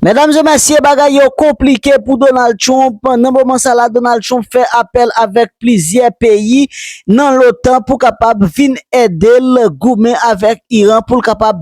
Medam e mesye bagay yo konplike pou Donald Trump nan moman sa la Donald Trump fè apèl avèk plizyè peyi nan lotan pou kapab vin edel goumen avèk Iran poul kapab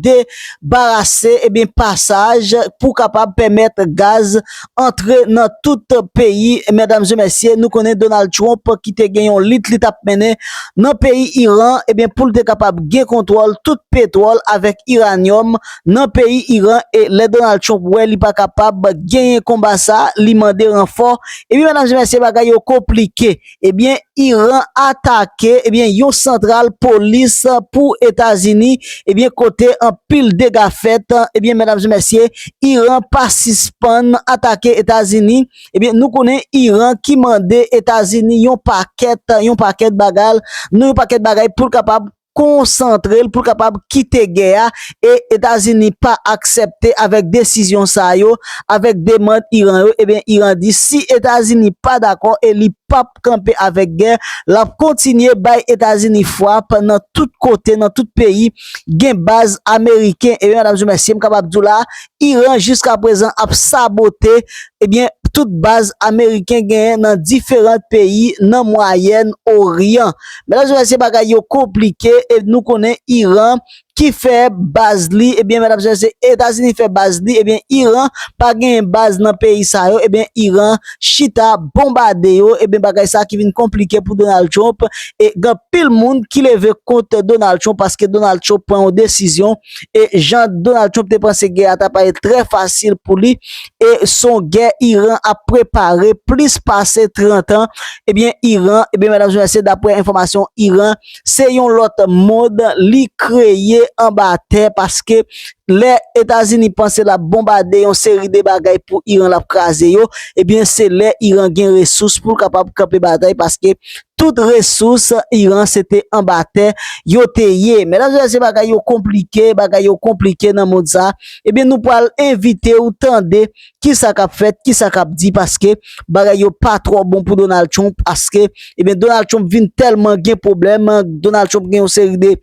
debarase ebyen pasaj pou kapab pèmèt gaz antre nan tout peyi medam e mesye nou konnen Donald Trump ki te gen yon lit li tap mennen nan peyi Iran ebyen poul te kapab gen kontwòl tout petwòl avèk Iranium nan peyi Iran e lè Donald Trump wè li pa kapab genyen konba sa li mande ranfò epi medam e mesye bagay yo konplike ebyen Iran atake ebyen yon santral polis pou Etazini ebyen kote anpil dega fèt ebyen medam e mesye Iran pa sispann atake Etazini ebyen nou konnen Iran ki mande Etazini yon pakèt yon pakèt bagal nou yon pakèt bagay poul kapab konsantre l pou l kapab kite gè a e Etazini pa aksepte avèk desizyon sa yo, avèk demand Iran yo, ebyen Iran di si Etazini pa dakò e li pap kanpe avèk gè, l ap kontinye bay Etazini fwap nan tout kote, nan tout peyi gen baz ameriken. Ebyen medam e mesye m kapab di w la, Iran jiska prezan ap sabote ebyen tout baz ameriken genyen nan diferant peyi nan mwayèn oryan. Medam e mesye bagay yo konplike e nou konnen Iran ki fè baz li ebyen medam e mesye etazini fè baz li ebyen Iran pa genyen baz nan peyi sa yo ebyen Iran chita bonbade yo ebyen bagay sa ki vin konplike pou Donald Trump e gen anpil moun ki leve kont Donald Trump paske Donald Trump pran yon desizyon e jan Donald Trump te panse gè a ta pale trè fasil pou li e son gè Iran ap prepare plis pase 30 an ebyen eh Iran ebyen eh medam zè mesye daprè enfòmasyon Iran se yon lòt mond li kreye anba tè paske lè Etazini panse lap bonbade yon seri de bagay pou Iran lap kraze yo ebyen eh se lè Iran gen resous pou kapab kanpe batay paske Tout resous Iran se te anba tè yo te ye. Medam e mesye bagay yo konplike, bagay yo konplike nan mond sa. Ebyen nou pwal envite ou tande ki sa kap fèt, ki sa kap di paske bagay yo pa twò bon pou Donald Trump aske ebyen Donald Trump vin tèlman gen pwoblèm, Donald Trump gen yon seri de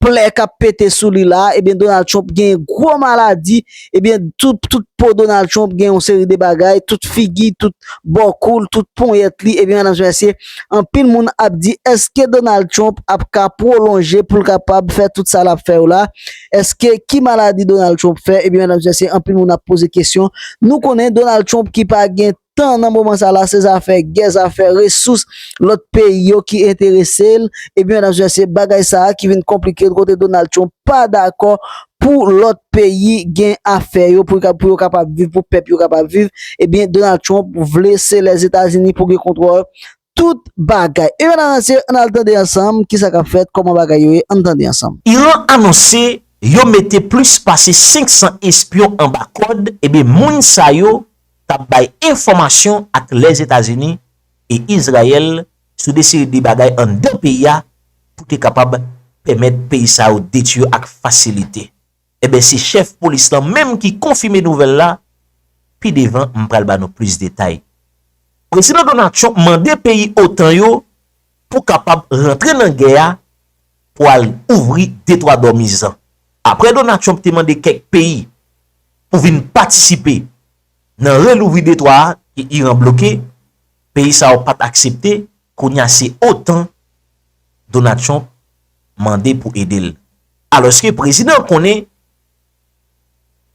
plè kap pete sou li la, ebyen Donald Trump gen gwo maladi, ebyen tout po Donald Trump gen yon seri de bagay, tout figi, tout bò kou l, tout ponyèt li, ebyen medam e mesye, anpil moun ap di eske Donald Trump ap ka pwolonje pou l kapab fè tout sa lap fè yo la, eske ki maladi Donald Trump fè, ebyen medam e mesye anpil moun ap poze kesyon, nou konnen Donald Trump ki pa gen tan nan moman sa la se zafè gè zafè resous lòt peyi yo ki enterese l ebyen medam se se bagay sa a ki vin konplike kote Donald Trump pa dakò pou lòt peyi gen afè yo pou pou yo kapab viv pou pèp yo kapab viv ebyen Donald Trump vle se lèzetazini pou gen kontwòl tout bagay. Ebyen ananse ann al tande ansanm kisa kap fèt, kòman bagay yo ye ann tande ansanm. Iran anonse yo mete plis pase 500 espyon anba kòd, ebyen moun sa yo t ap bay enfòmasyon ak Lèzetazini e Izrayèl sou de seri de bagay anndan peyi a pou te kapab pèmèt peyi sa yo detwi yo ak fasilite. Enben se chèf polis lan menm ki konfime nouvèl la, pi devan m pral ba nou plis detay. Prezidan Donald Trump mande peyi otan yo pou kapab rantre nan gè a pou al ouvri Detwa Dòmiz lan. Aprè Donald Trump te mande kèk peyi pou vin patisipe nan relouvri detwa a ke Iran bloke, Peyi sa yo pat aksepte, kounya se otan Donald Trump mande pou ede l. Alòske prezidan an konnen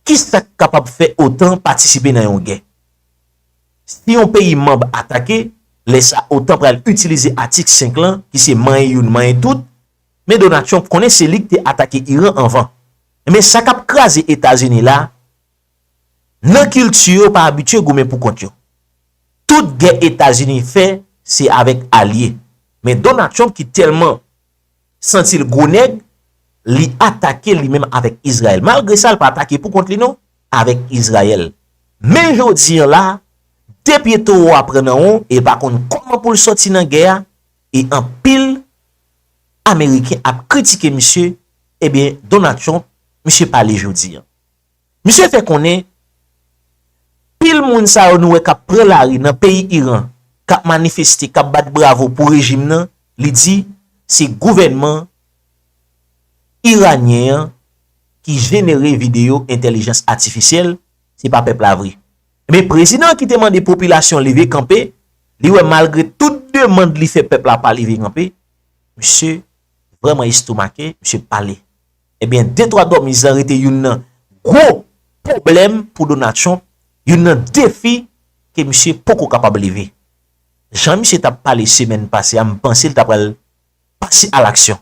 kisa k kapab fè otan patisipe nan yon gè. Si yon peyi manb atake, lè sa otan pral itilize atik 5 lan ki se manyen youn manyen tout, men Donald Trump konnen se li k te atake Iran anvan. Enben sa k ap kraze Etazini la, Nan kilti yo yo pa abitye goumen pou kont yo. Tout gè Etazini fè se avèk alye. Men Donald Trump ki tèlman santi l gwo nèg, li atake li menm avèk Izrayèl. Malgre sa l pa atake pou kont li non, avèk Izrayèl. Men jodi an la, 2 pye towo a pran nan won e l pa konn kòman pou l sòti nan gè a e anpil Ameriken ap kritike misye, ebyen Donald Trump, misye pale jodi an. Misye fè konnen, pil moun sa yo nou wè k ap pran lari nan peyi Iran, k ap manifeste, k ap bat bravo pou rejim nan, li di, se gouvènman iranyen an ki jenere videyo entèlijans atifisyèl, se pa pèp la vre. Ebyen, prezidan an ki te mande popilasyon leve kanpe, li wè malgre tout demand li fè pèp la pa leve kanpe, misye vrèman estomake, misye pale. Ebyen de twa dòmiz lan rete youn nan gwo pwoblèm pou Donald Trump, youn nan defi ke misye poko kapab leve. Jan misye tap pale semèn pase a m panse l ta pral pase a laksyon.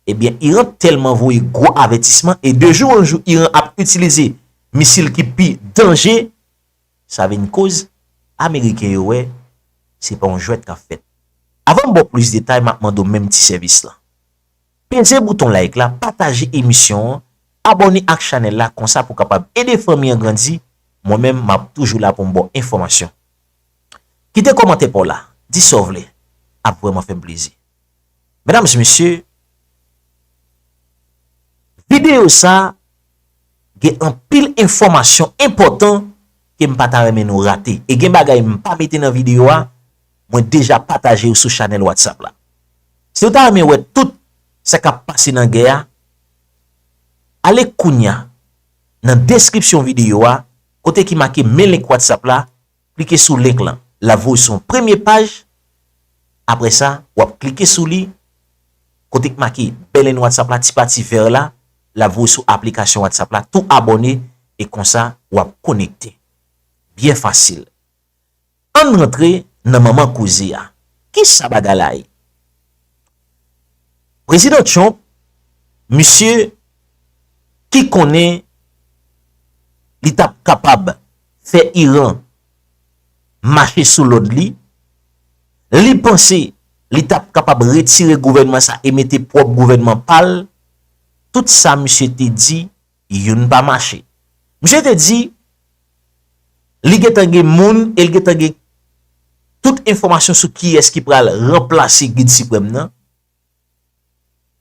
Ebyen Iran tèlman voye gwo avètisman e de jou an jou Iran ap itilize misil ki pi danje, sa vin koz ameriken yo wè se pa yon jwèt kap fèt. Avan m ba w plis detay map mande w menm ti sèvis lan. Peze bouton like la, pataje emisyon an, abòne ak chanèl la konsa pou kapab ede fanmi an grandi, mwen menm map toujou la poum baw enfòmasyon. Kite kòmantè paw la, di sa w vle, ap vrèman fèm plezi. Medam e mesye, videyo sa gen anpil enfòmasyon enpòtan kem pata renmen nou rate e gen bagay mpa mete nan videyo a, Mwen deja pataje yo sou chanèl whatsapp la. Si ou ta renmen wè tout sa kap pase nan gè a, ale kounya nan deskripsyon videyo a kote ki make men link whatsapp la, klike sou link lan. Lap voye w sou yon premye paj, apre sa wap klike sou li kote ki make bnln whatsapp la ti pati vèr la, lap voye w sou aplikasyon whatsapp la tou abòne e konsa wap konekte. Byen fasil. Ann rantre nan manman koze a. Kisa bagay la ye? Prezidan Trump, misye ki konnen li t ap kapab fè Iran mache sou lòd li, li panse li t ap kapab retire gouvènman sa e mete pwòp gouvènman pa l, tout sa misye te di youn pa mache. Misye te di, li gen tan gen moun e li gen tan gen tout enfòmasyon sou kiyès ki pral ranplase Gid Siprèm nan.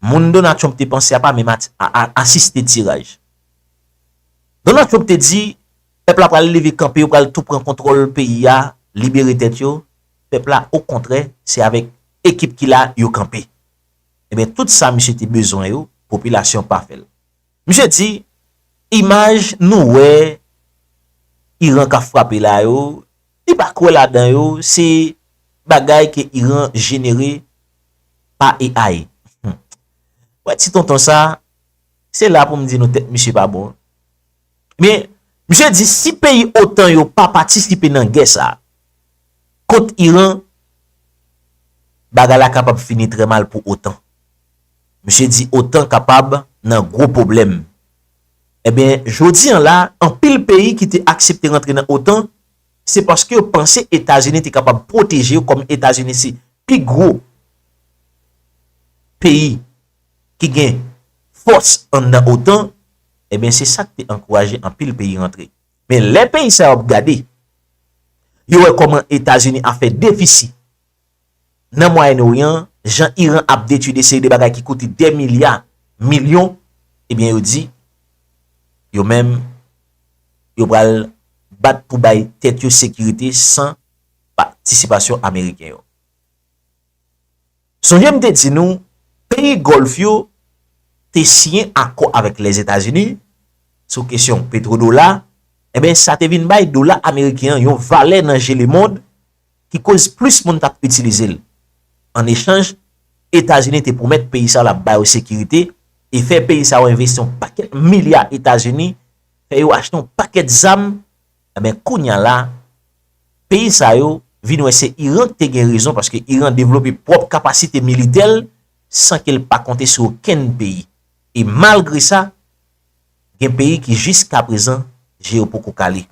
Moun Donald Trump te panse a pa menm asiste tiraj. Donald Trump te di, pèp la pral leve kanpe, yo pral tou pran kontwòl peyi a, libere tèt yo. Pèp la okontrè, se avèk ekip ki la yo kanpe. Ebyen, tout sa misye te bezwen yo, popilasyon pa fè l. Misye di, Imaj nou wè Iran ka frape la yo, li pa kwè ladan yo, se bagay ke Iran jenere pa AI. Ou wè ti tonton sa, se la pou m di nou tèt misye pa bon. Men, misye di si peyi otan yo pa patisipe nan gè sa, kont Iran, bagay la kapab fini trè mal pou otan. Misye di otan kapab nan gwo pwoblèm. Enben, jodi an la, anpil peyi ki te aksepte rantre nan otan, se paske yo panse Etazini te kapab pwoteje yo kòm Etazini se pi gwo peyi ki gen fòs anndan otan, enben se sa k te ankouraje anpil peyi rantre. Men lè peyi sa yo ap gade, yo wè kòman Etazini a fè defisi. nan Mwayen Oryan, jan Iran ap detui de seri de bagay ki koute dè milya, milyon, ebyen yo di, yo menm, yo pral bat pou bay tèt yo sekirite san patisipasyon Ameriken yo. Sonje m te di nou, peyi Gòlf yo te siyen akò avèk Lèzetazini sou kesyon petwodola, enben sa te vin bay dola Ameriken an yon valè nan je lemond, ki koz plis moun t ap itilize l. An echanj, Etazini te pwomèt peyi sa yo l ap ba yo sekirite e fè peyi sa yo envesti yon pakèt milya Etazini, fè yo achte yon pakèt zam, enben kounya la peyi sa yo vin wè se Iran ki te gen rezon paske Iran devlope pwòp kapasite militè l san ke l pa konte sou okenn peyi e malgre sa, gen peyi ki jiskaprezan je yo poko kale.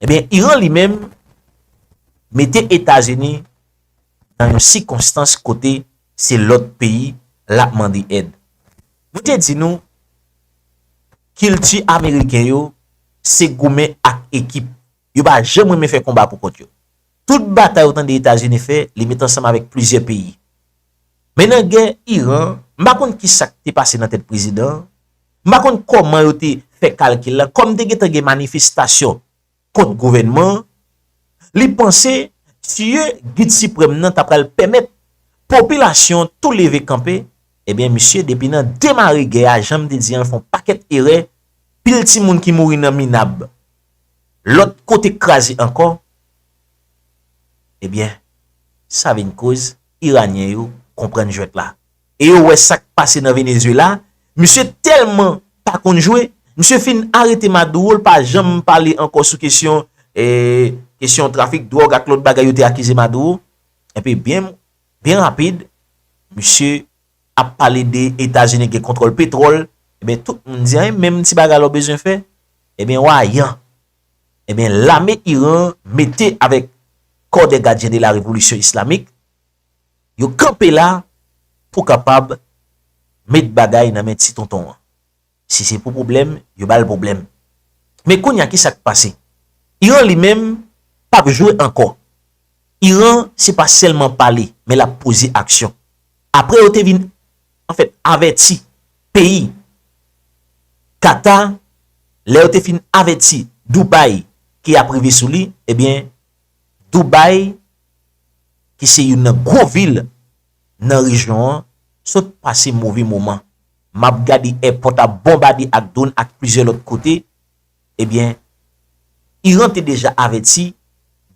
Ebyen Iran li menm mete Etazini nan yon sikonstans kote se lòt peyi l ap mande èd. Mwen te di nou kilti ameriken yo se goumen ak ekip. Yo pa janm renmen fè konba pou kont yo. Tout batay ou tande Etazini fè, li met ansanm avèk plizyè peyi. Men nan gè Iran, m pa konn ki sa k te pase nan tèt prezidan an, m pa konn kòman yo te fè kalkil la, kòm te gentan gen manifestasyon kont gouvènman an, li panse tiye Gid Siprèm nan ta pral pèmèt popilasyon an tou leve kanpe, ebyen misye depi nan demare gè a, jan m te di an, l fè yon pakèt erè, pil timoun ki mouri nan minab. lòt kote k kraze ankò, ebyen sa vin koz iranyen yo konprann jwèt la e yo wè sa k pase nan Venezuela, misye tèlman pa konn jwe, misye fin arete Maduro l pa janm pale ankò sou kesyon e kesyon trafik dwòg ak lòt bagay yo te akize Maduro, epi byen rapid misye ap pale de etazini gen kontrol petrol ebyen tout moun di anyen menm ti bagay la ou bezwen fè ebyen wa yan ebyen lame iran mete avek kò de gadyen de la revolisyon islamik yo kanpe la pou kapab met bagay nan men ti tonton an. Si se pou pwoblèm, yo ba l pwoblèm. Men kounye a ki sa k pase? Iran li menm p ap jwe ankò. Iran se pa sèlman pale men l ap poze aksyon. Apre yo te vin anfèt avèti peyi Kata, lè yo te fin avèti Doubay ke y ap rive sou li, ebyen Doubay ki se youn nan gwo vil nan rejyon an sot pase move moman. Map gade èpòt ap bonbade ak dwonn ak plizyè lòt kote, ebyen Iran te deja avèti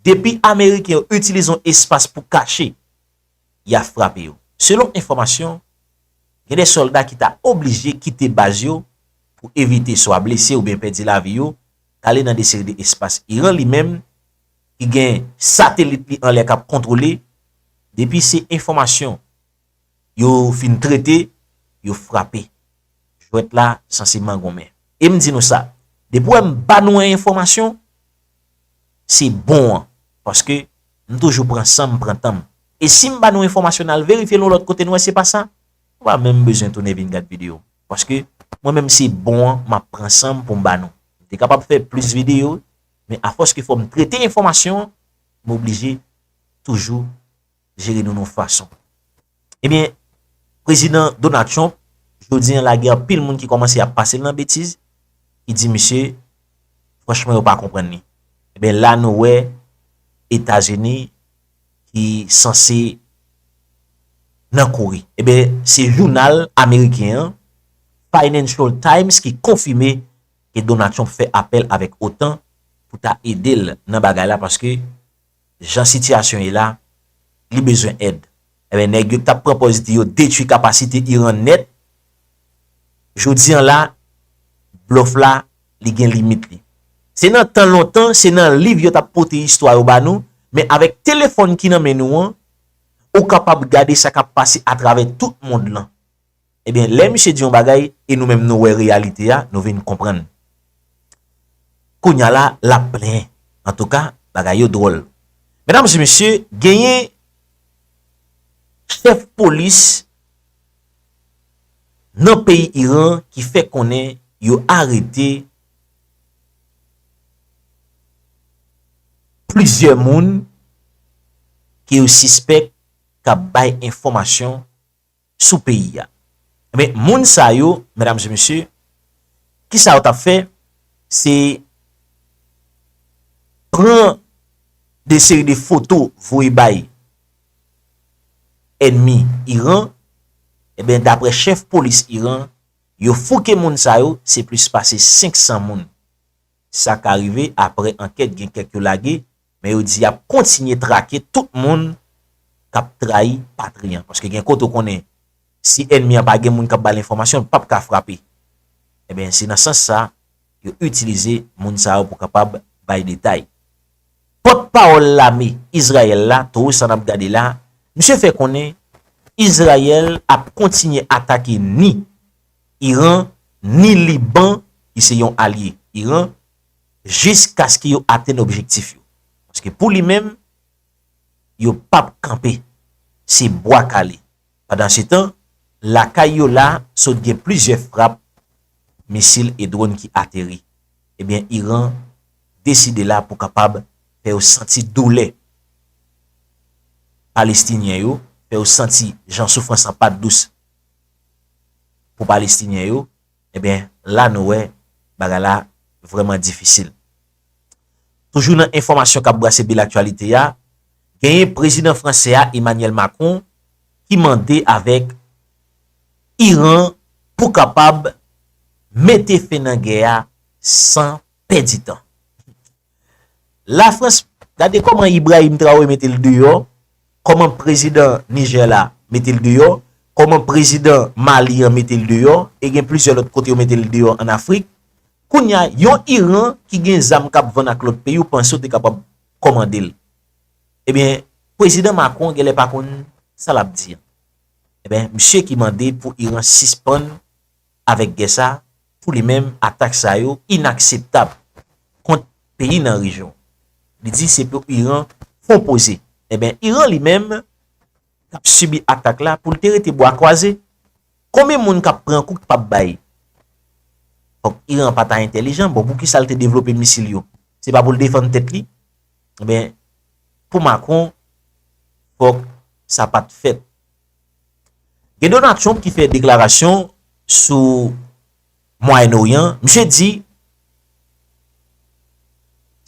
depi ameriken yo itilize yon espas pou kache, ya frape yo. Selon enfòmasyon, gen 2 sòlda ki ta oblije kite baz yo pou evite swa blese oubyen pèdi lavi yo, kale nan 2 seri de espas Iran li menm ki gen satelit li anlè kap kontwole, depi se enfòmasyon Yo fin trete, yo frape. Jwèt la sanse mangonmen. E m di nou sa, depi wè m ba nou yon enfòmasyon, se bon an. Paske m toujou pran san m, pran tan m. E si m ba nou yon enfòmasyon n al verifye l yon lòt kote, n wè se pa sa, nou pa menm bezwen tounen vin gad videyo m. Paske mwen menm se bon an, m ap pran san m pou m ba nou. M te kapab fè plis videyo, men afòske fò m trete enfòmasyon, m oblije toujou. jere nou nou fason. Ebyen, prezidan Donald Trump, jodi an la gen anpil moun ki kòmanse ap pase l nan betiz, ki di misye, franchman yo pa konprann li. Ebyen la nou wè Etazini ki sanse nan kouri. Ebyen, se jounal ameriken an, Financial Times ki konfime ke Donald Trump fè apèl avèk otan pou ta ede l nan bagay la paske jan sitiyasyon ye la, li bezwen èd. Enben nèg yo ki t ap pran pòz di yo detwi kapasite Iran nèt, jodi an la, blòf la, li gen limit li. Se nan tan lontan, se nan liv yo t ap pote istwa yo ba nou, men avèk telefòn ki nan men nou an, ou kapab gade sa k ap pase atravè tout mond lan. Ebyen lè misye di yon bagay e nou menm nou wè reyalite a nou vin konprann. Kounya la lap plenyen. Antouka bagay yo dwòl. Medam e mesye genyen chèf polis nan peyi Iran ki fè konnen yo arete plizyè moun ke yo sispèk kap bay enfòmasyon sou peyi a. Enben, moun sa yo, medam e mesye, ki sa yo tap fè, se pran de seri de foto voye bay enmi Iran, enben, dapre chèf polis Iran, yo fouke moun sa yo, se plis pase 500 moun. Sa ka rive, apre ankèt gen kèk yo lage, men yo di yap kontinye trake tout moun kap trayi patri an paske gen kote ou konnen si ènmi an pa gen moun kap bal enfòmasyon l pap ka frape enben se nan sans sa yo itilize moun sa yo pou kapab bay detay. Pòt pawòl lame Izrayèl la Towe sa nap gade la misye fè konnen Izrayèl ap kontinye atake ni Iran ni Liban ki se yon alye Iran jiskaske yo atenn objektif yo. Paske pou li menm, yo p ap kanpe. Se bwa kale. Pandansetan, lakay yo la, sot gen plizyè frap misil e dronn ki ateri. Ebyen, Iran deside la pou kapab fè yo santi doulè Palestinyen yo, fè yo santi jan soufrans lan pa t dous pou Palestinyen yo. Ebyen la nou wè bagay la vrèman difisil. Toujou nan enfòmasyon kap brase bil aktyalite ya, genyen prezidan fransè a Emmanuel Macron ki mande avèk Iran pou kapab mete fen nan gè a san pèdi tan. La frans gade koman Ibrahim Traoré mete l deyò, koman prezidan Niger la mete l deyò, koman prezidan Mali an mete l deyò e gen plizyè lòt kote yo mete l deyò an Afrik. Kounya yon Iran ki gen zam kap vann ak lòt peyi ou panse ou te kapab komande l. Ebyen prezidan Macron genlè pa konn sa lap di an. Ebyen misye ki mande pou Iran sispann avèk gè sa, pou li menm atak sa yo inakseptab kont peyi nan rejyon an. Li di se pou Iran fon poze. Enben Iran li menm k ap sibi atak la pou l te rete bwa kwaze. Konbyen moun k ap pran kou k pap bay? Fòk Iran pa ta entèlijan, bon poukisa l te devlope misil yo? Se pa pou l defann tèt li? Enben pou Macron fòk sa pat fèt. Gen Donald Trump ki fè deklarasyon sou Mwayen Oryan, misye di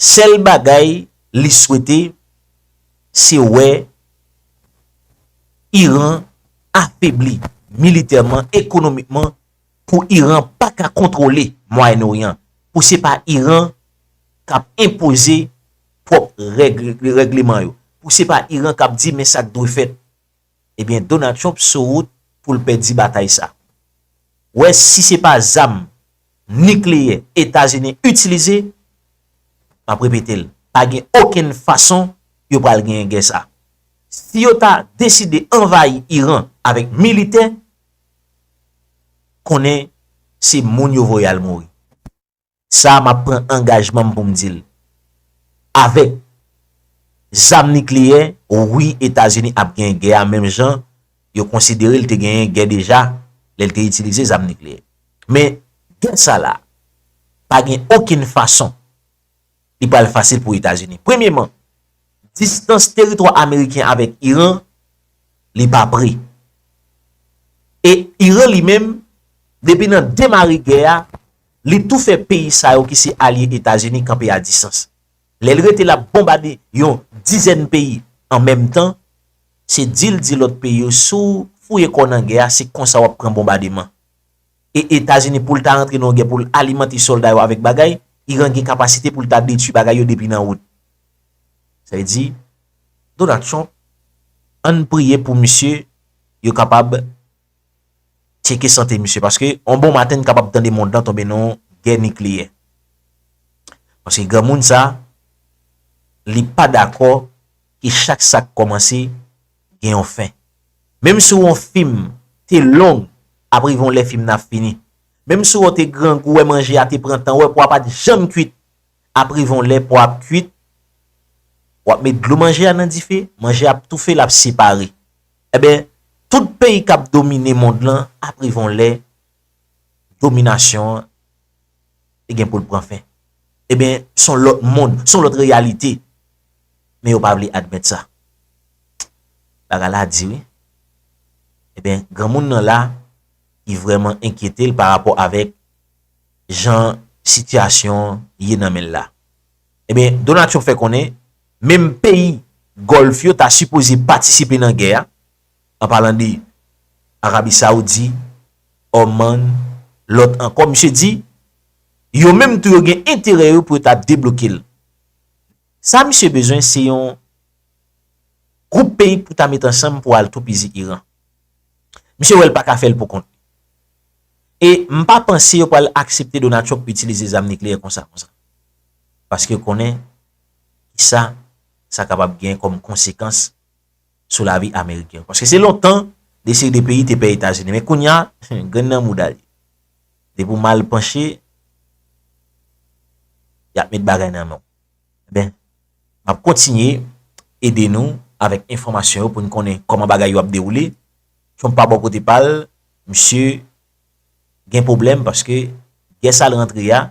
sèl bagay li swete se wè Iran afebli militèman, ekonomikman pou Iran pa ka kontwole Mwayen Oryan, pou se pa Iran k ap enpoze pwòp règ li, règleman yo, pou se pa Iran k ap di men sa k dwe fèt. Ebyen Donald Trump sou wout pou l pèdi batay sa. Wè si se pa zam nikleyè Etazini itilize, m ap repete l, pa gen okenn fason yo pral genyen gè sa. Si yo ta deside anvayi Iran avèk militè, konnen se moun yo voye al mouri. Sa a m ap pran angajman m pou m di l. Avèk zam nikleyè, wi Etazini ap gen gè a menm jan yo konsidere l te genyen gè deja lè l te itilize zam nikleyè. Men, gè sa la a, pa gen okenn fason li pral fasil pou Etazini. Premyeman, distans teritwa ameriken avèk Iran, li pa pre. E Iran li menm, depi nan demare gè a, Li tou fè peyi sa yo ki se alye Etazini kanpe a disans. Lè l rete l ap bonbade yon dizèn peyi an menm tan, se di l di lòt peyi yo si w fouye kò w nan gè a se konsa w ap pran bonbademan. E Etazini pou l ta rantre nan yon gè pou l alimante sòlda yo avèk bagay, Iran gen kapasite pou l ta detui bagay yo depi nan wout. Sa vle di Donald Trump, an n priye pou misye yo kapab. Tcheke sante misye paske yon bon maten n kapab tande mond lan tonbe nan yon gè nikleyè. Paske granmoun sa li pa dakò ke chak sa k kòmanse gen yon fen. Menm si w wè yon fim te long ap rive yon lè fim nan ap fini. Menm si w wè w te grangou wè manje a te pran tan w wè pwa a pa t janm kuit ap rive yon lè pwa a ap kuit w ap met dlo manje a nan dife manje a ap toufe l ap separe. Enben, tout peyi kap domine mond lan ap rive yon lè dominasyon an te gen pou l pran fen. Enben, s on lòt mond, s on lòt reyalite. Men yo pa vle admèt sa. Bagay la di wi. Enben, granmoun nan la ki vreman enkyete l pa rapò avèk jan sitiyasyon ye nan men l la. Ebyen Donald Trump fè konnen menm peyi Gòlf yo ta sipoze patisipe nan gè a, an palan de Arabi Saoudi, Oman, lòt ankò, misye di yo menm tou yo gen enterè yo pou yo ta debloke l. Sa misye bezwen se yon gwoup peyi pou ta met ansanm pou al toupizi Iran. Misye wè l pa ka fè l pou kont li. E m pa panse yo pral aksepte Donald Trump itilize zam nikleyè konsa konsa. paske yo konnen ki sa sa kapab gen kòm konsekans sou lavi ameriken yo. Paske se lontan de seri de peyi te pè Etazini, men kounya grenn nan mouda li. Depi ou mal panche, y ap met bagay nan men w. Enben, m ap kontinye ede nou avèk enfòmasyon yo pou n konnen kòman bagay yo ap dewoule. Trump pa bò kote pa l, misye. gen pwoblèm paske gè sal rantre a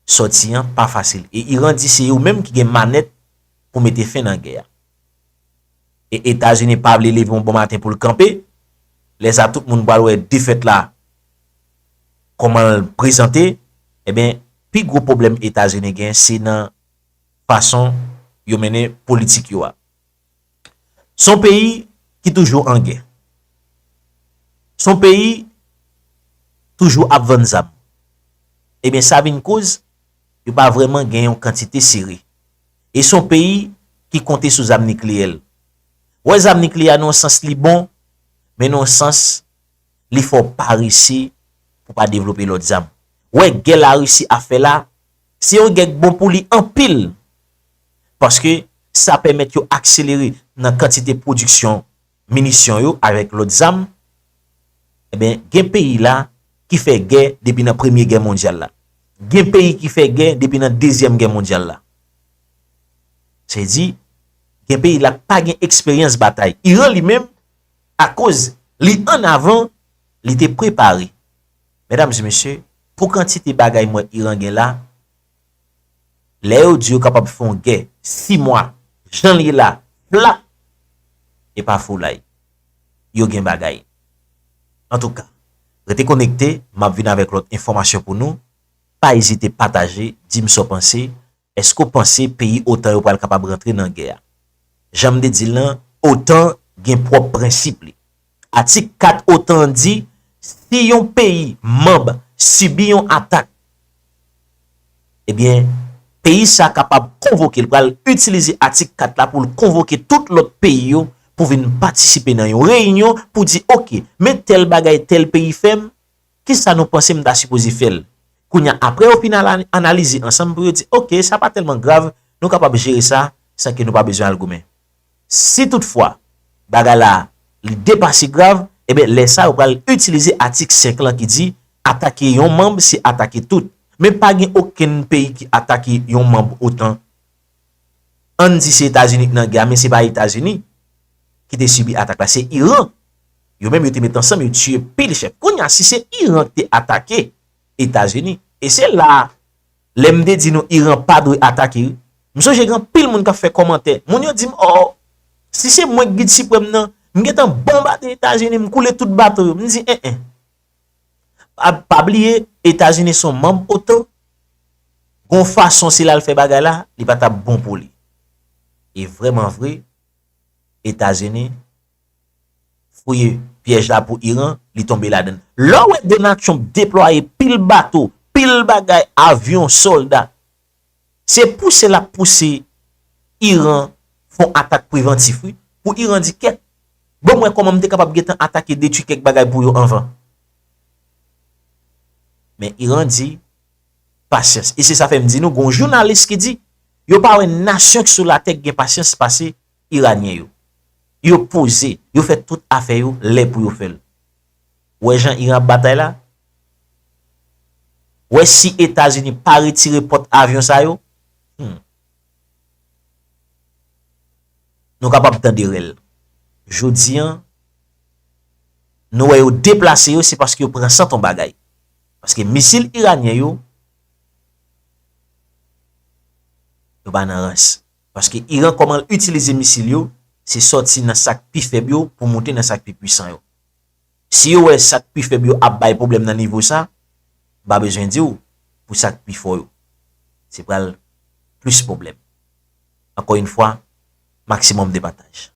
sòti an pa fasil e Iran di se yo menm ki gen manèt pou mete fen nan gè a. E Etazini pa vle leve yon bon maten pou l kanpe, lè sa tout moun pral wè defèt la kòman l prezante, enben pi gwo pwoblèm Etazini gen se nan fason yo mennen politik yo a. Son peyi ki toujou an gè. Son peyi toujou ap vann zam. Ebyen sa vin koz yo pa vreman gen yon kantite sere. E son peyi ki konte sou zam nikleyè l. Wè zam nikleyè a nan yon sans li bon, men nan yon sans li fè w parese pou pa devlope lòt zam. Wè gè Larisi ap fè la, se yon gè k bon pou li anpil paske sa pèmèt yo akselere nan kantite pwodiksyon minisyon yo avèk lòt zam, enben gen peyi la ki fè gè depi nan premye gè mondyal la, gen peyi ki fè gè depi nan dezyèm gè mondyal la. Sa vle di, gen peyi la k pa gen eksperyans batay. Iran li menm, akoz li an avan, li te prepare. Medam e mesye, pou kantite bagay m wè Iran gen la, Lè yo di yo kapab fè yon gè 6 mwa jan l ye la flap e pa foulay. Yo gen bagay. Antouka, rete konekte, m ap vin avèk lòt enfòmasyon pou nou. Pa ezite pataje, di m sa w panse. Èske w panse peyi otan yo pral kapab rantre nan gè a? Jan m te di l lan, otan gen pwòp prensip li. Atik 4 otan an di si yon peyi manb sibi yon atak, ebyen peyi sa kapab konvoke, li pral itilize atik 4 la pou l konvoke tout lòt peyi yo pou vin patisipe nan yon reyinyon pou di ok men tèl bagay tèl peyi fè m, kisa nou panse m ta sipoze fè l? Kounye a apre yo fin analize ansanm pou yo di ok sa pa tèlman grav nou kapab jere sa san ke nou pa bezwen al goumen. Si tout fwa, bagay la, li depase grav, enben lè sa yo pral itilize atik 5 lan ki di, atake yon manb se atake tout. Men pa gen okenn peyi ki atake yon manb otan. Ann di se Etazini ki nan gè a, men se pa Etazini ki te sibi atak la, se Iran. Yo menm yo te met ansanm yo tiye pil chèf. Kounya si se Iran ki te atake Etazini, e se la, lè m te di nou Iran pa dwe atake wi. M sonje gen anpil moun k ap fè kòmantè, moun yo di m oo, si se mwen k Gid Siprèm nan, m gen tan bonbade Etazini, m koule tout bato yo. M di en en. Pa bliye, Etazini se yon manb otan, gen yon fason si l al fè bagay la, li pa t ap bon pou li. E vreman vre, Etazini. fouye pyèj la pou Iran, li tonbe ladann. Lè w wè Donald Trump deplwaye pil bato, pil bagay, avyon, sòlda, se pouse l ap pouse Iran fon atak prevantif wi, pou Iran di kèt, ban m wè kòman m te kapab gen tan atake, detwi kèk bagay pou yo anvan. Men Iran di, pasyans. E se sa fè m di nou gen yon jounalis ki di, yo pa wè nasyon ki sou latè ki gen pasyans pase Iranyen yo. Yo poze, yo fè tout afè yo lè pou yo fè l. Ou wè jan Iran ap batay la? Ou wè si Etazini pa retire pòt avyon sa yo, hum, nou kapab tande rèl. Jodi an, nou wè yo deplase yo se paske yo pran sant on bagay. Paske misil Iranyen yo, yo pa nan rans. paske Iran kòman l itilize misil yo se sòti nan sa k pi fèb yo pou moute nan sa k pi pwisan yo. Si yo wè sa k pi fèb yo ap bay pwoblèm nan nivo sa, m pa bezwen di w pou sa k pi fò yo se pral plis pwoblèm. Ankò yn fwa, maximum de partage.